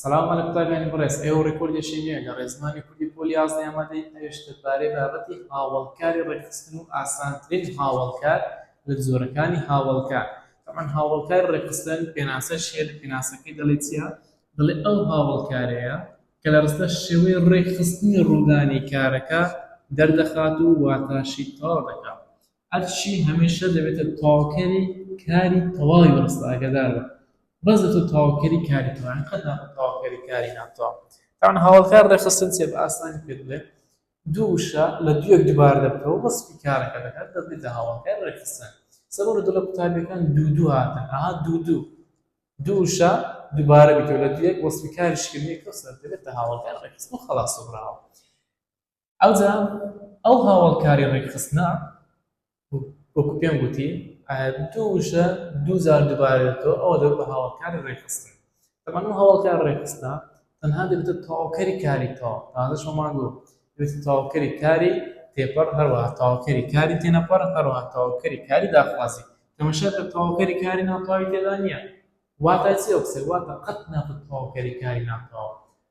سلام مەلا قوتابیانی بەڕێز ئێوە ڕێکۆردێکی نوێ لە ڕێزمانی کوردی پۆلی یازدە ئامادەی ئەویش دەربارەی بابەتی هاوەڵکاری ڕێکخستن و ئاسانترین هاوەڵکار لە جۆرەکانی هاوەڵکار تەبعەن هاوەڵکاری ڕێکخستن پێناسەش هەیە لە پێناسەکەی دەڵێ چییە دەڵێ ئەو هاوەڵکارەیە کە لە ڕستە شێوەی ڕێکخستنی ڕوودانی کارەکە دەردەخات و واتاشی تەواو دەکات ئەرشی هەمیشە دەبێتە تەواوکەری کاری تەواوی بەڕێز ئاگادار بە بەس دەبێتە تەواوکەری کاری تەواو یانی قەت نابێتە تەواوکەری کاری ناتەواو تەبعەن هاوڵکار ڕێکخستن چیە بە ئاسانی پێت بڵێم دوو وشە لە دوویەک دووبارە دەبکەوە بەس سپی کارەکە دەکات دەبێتە هاوڵکار ڕێکخستن سەبەر و دڵە قوتابیەکان دوو دوو هاتن ئەها دوو دوو دوو وشە دووبارە بیتەوە لە دوویەک وەسپی کاریشکردنی کەسەر دەبێتە هاوڵکار ڕێکخستن خەڵاس و براوە ئەوجا ئەو هاوەڵکاری ڕێکخستنە وەکو پێم گوتی دوو وشە دوو جار دووبارە دێتەوە ئەوە دەبێت بە هاوڵکاری ڕێکخستن تەمان ئەو هاوڵکار ڕێکخستە تەنها دەبێتە تەواوکەری کاری تەواو تازە شەمان دوو دەبێت تەواوکەری کاری تێپەڕ هەروەها تەواوکەری کاری تێنەپەڕ هەروەها تەواوکەری کاری داخوازی تەمەشا کە تەواوکەری کاری ناتەواوی تێدا نییە واتە چی ئەو قسە واتە قەت نابێت تەواوکەری کاری ناتەواو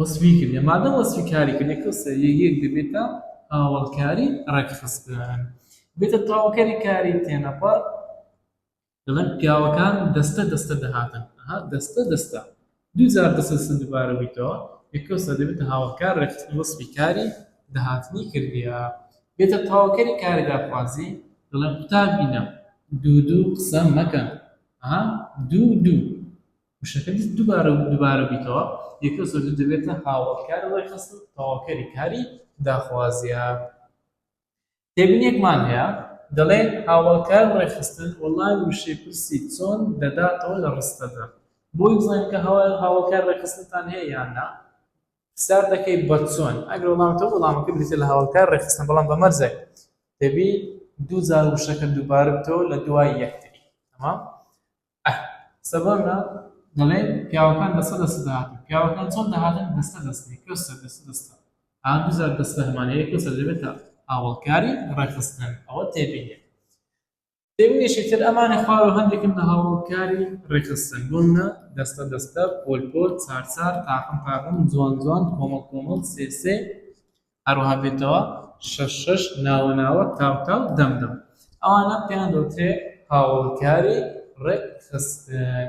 وەسفی کردیە مادەم وەسفی کاری کردیە کەسە یەک دەبێتە هاوڵکاری ڕێکخستن بێتە تاوکەری کاری تێنەپەڕ دەڵێن پیاوەکان دەستە دەستە دەهاتن دەستە دەستە دوجار دەسە سندوبارە بیتەوە یەکەسە دەبێتە هاوڵکار ڕێکخستن وەسفی کاری دەهاتنی کردیە بێتە تاوکەری کاری داخوازی دەڵێن قوتابینە دوو دوو قسە مەکەن دوو دوو وشەکە دووبارە و دووبارە بیکەوە، یەکە زۆر دوو دەبێتە هاوەڵکاری ڕێکخستن و تەواوکەری کاری داخوازییە. تێبینییەکمان هەیە، دەڵێ، هاوەڵکاری ڕێکخستن وەڵامی وشەی پرسی چۆن دەداتەوە لە ڕستەدا. بۆی بزانین کە هاوەڵکاری ڕێکخستنتان هەیە یان نا، پرسیار دەکەی بە چۆن؟ ئەگەر وەڵام تۆ وەڵامەکە بریتییە لە هاوەڵکاری ڕێکخستن بەڵام بە مەرجێک دەبی دوو جار وشەکە دووبارە بکەوە لە دوای یەکتری. تەمام؟ ئەه سەبارە دەڵێ پیاوەکان دەستە دەستە دەهاتن پیاوەکان چۆن دەهاتن دەستە دەستە کەسە دەستە دەستە ئا دوزار دەستە هەمانەیە کەسە دەبێتە هاوڵکاری ڕێخستن ئەوە تێبینێ تێبینێکی تر ئەمانە خوارەوە هەندێکن لە هاوڵکاری ڕێخستن بوونە دەستە دەستە پۆل پۆل چار چار تاقم تاقم جوان جوان کۆمەڵ کۆمەڵ سێ سێ هەروەها بێتەوە شەش شەش ناوە ناوە تاو تاو دەم دەم ئەوانە پێیان دەوترێ هاوەڵکاری ڕێکخستن.